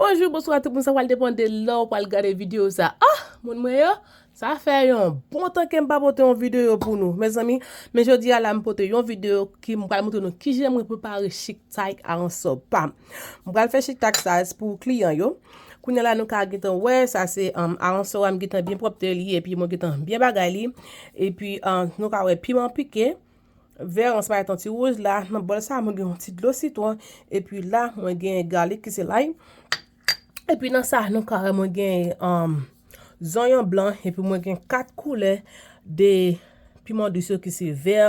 Bonjou bonswa tout moun sa pral depan de lè ou pral gade video sa ah moun mwen yo sa fè yon bon tan kem pa pote yon video pou nou mezanmi men jodi a la m pote yon video ki m pral montre nou ki jan mwen prepare chic tie a an so pam m pral fè chic tie sa pou kliyan yo kounye la nou ka gitan wè sa se um, a an so am gitan bien propte li epi mwen gitan bien bagay li epi um, nou ka wè piman pike Vè an se pa ton ti wouj la nan bòl sa mwen gen yon ti dlo sitwon epi la mwen gen galik ki se lay epi nan sa nou kare mwen gen um, zonyon blan epi mwen gen kat koulè de piman dous yo ki se vè,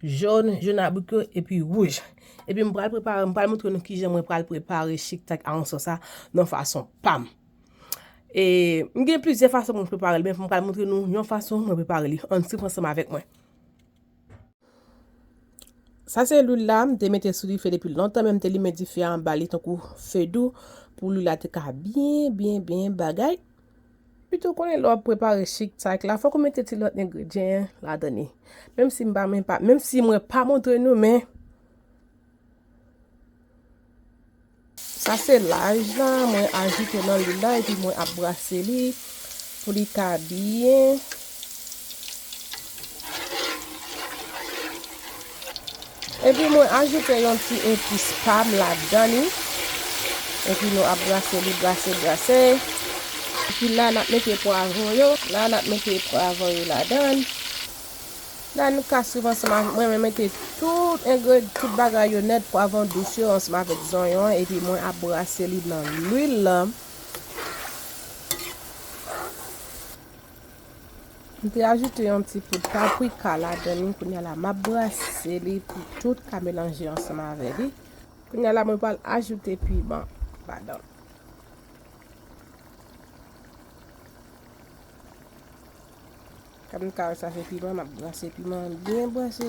jòn, jòn abrik yo epi wouj. Epi mwen pral prepare, mwen pral moutre nou ki jan mwen pral prepare chik tak a anson sa nan fason pam. E mwen gen plizyè fason mwen prepare li men mwen pral moutre nou yon fason mwen prepare li. Ann sip ansanm avèk mwen. Sa se lwil la, m te mete sou dife depi lontan men m te limen dife a anba li tankou fedou pou lwil la te ka byen byen byen bagay. Pito konnen lè w ap prepare chik cake la fòk ou mete ti lòt engredyen ladan li. Menm si m pa menm pa menm si mwen pa montre nou men. Sa se laj la mwen ajoute nan lwil la epi mwen ap brase li pou li ka byen epi mwen ajoute yon ti epis pam ladan li epi nou ap brase li brase brase epi la nap mete pwavron yo la nap mete pwavron yo ladan. La nou ka swiv ansanm avèk mwen, mwen mete tout engre, tout bagay yo nèt, pwavon dous yo ansanm avèk zonyon an epi mwen ap brase li nan lwil la. M te ajoute yon ti poud paprika ladan li, kounya la map brase li pou tout ka melanje ansanm avè li. Kounya la mwen pral ajoute piman ladan l. Kòm m ka wè sa se piman, m ap brase piman an byen brase.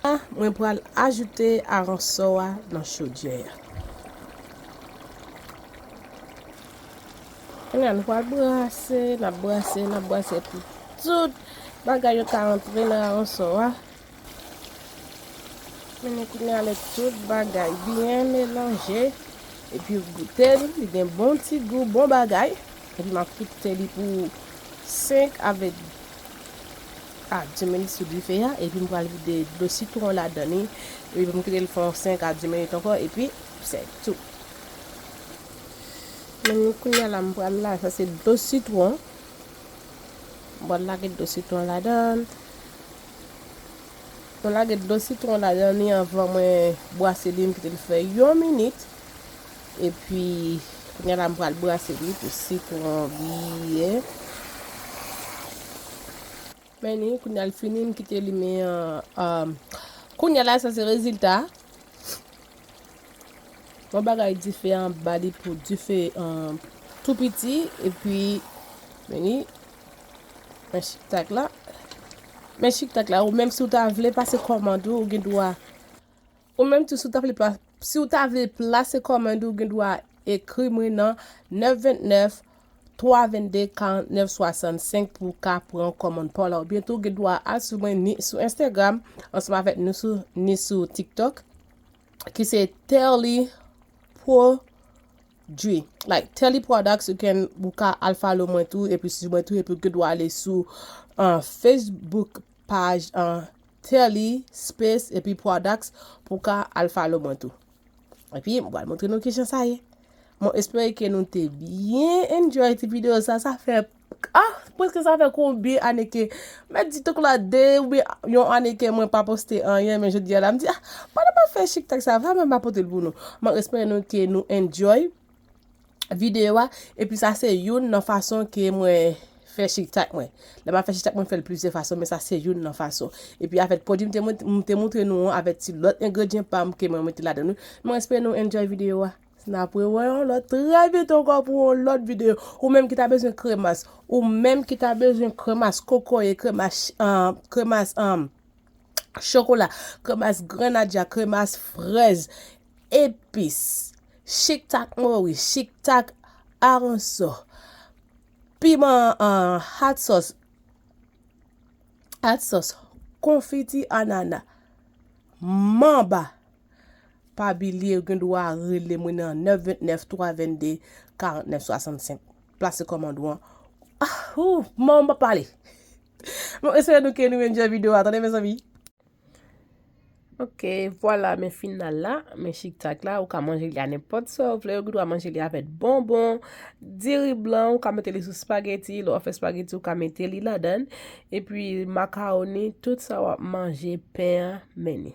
La, mwen pral ajoute aransò a nan chodyè a. Kounye a nou pral brase, n ap brase, n ap brase pou tout bagay yo ta antre nan aransò a. Mennen kounye a lè tout bagay byen melanje epi ou goute l, li gen bon ti gou, bon bagay. Epi m ap fikse li pou 5 avèk a 10 minit sou dife a epi m pral vide dlo sitwon an ladan li epi pou m kite l fè yon 5 a 10 minit ankò epi se tou. Mennen kounye a la m pral la, sa se dlo sitwon, m pral lage dlo sitwon an ladan l. Mwen lage dlo sitwon la dan li anvan mwen bwase li mkite li fè yon minit epi kounya la mpral brase li pou sitwon byen Meni kounya li fini mkite li men an kounya la sa se rezilta yon bagay dife anba li pou dife tou piti epi Meni Men chik tak la. Men chik tak la ou menm si ou ta vle pase kòmand ou ou gen dwa. Ou menm tou si ou ta vle si ou ta vle plase kòmand ou gen dwa ekri mwen nan 929 322 49 65 pou ou ka pran kòmand pa w la. Oubyen tou ou gen dwa al sou mwen ni sou Instagram ansanm avèk nou sou ni sou TikTok. ki se Telly Produit. Like Telly Products, ou can, ou ka al follow mwen tou, epi si mwen tou, epi ou good ou ale sou uh, Facebook page uh, Telly Space epi Products pou ka al follow mwen tou. Epi mwen pral montre nou ki jan sa ye. Mwen espere ke nou te bien enjoy ti video sa, sa fè Ah preske sa fè konbyen ane ke mèt di tok la 2 oubyen yon ane ke mwen pa poste anyen men jodi a la m di ah pandan map fè chik tak sa va mwen ma potel pou nou mwen espere nou ke nou enjoy videyo a epi sa se youn nan fason ke mwen fè chik tak mwen lè map fè chik tak mwen fèl plizyè fason men sa se youn nan fason epi avèk pwodwi m te moutre nou an avèk ti lòt engredyen pam ke mwen mete ladan nou mwen espere nou enjoy videyo a. Nap re wè yon lòt trè vit ankò pou yon lòt videyo. Ou menm ki ta bezwen kremas. Ou menm ki ta bezwen kremas kokoye, kremas an, kremas an, chokola, kremas grenadya, kremas frèz, epis, chiktak mori, chiktak aransò, piman an, hat sòs, hat sòs, konfiti anana, manba. Pa bilye ou gen dwa rele mwen nan 929 322 49 65. Plase kòmand ou an. Ah, ou, mom pa pale. Bon, espere nou ke nou enjoy video a, tande mes amis. Ok, voilà men final la, men chik tak la, ou ka manje li a nenpòt sa ou vle, ou gen dwa manje li avèk bonbon, diri blan, ou ka mete li sou spageti, lè w ap fè spageti ou ka mete li ladan, epi makaroni, tout sa w ap manje, pen an, men ni.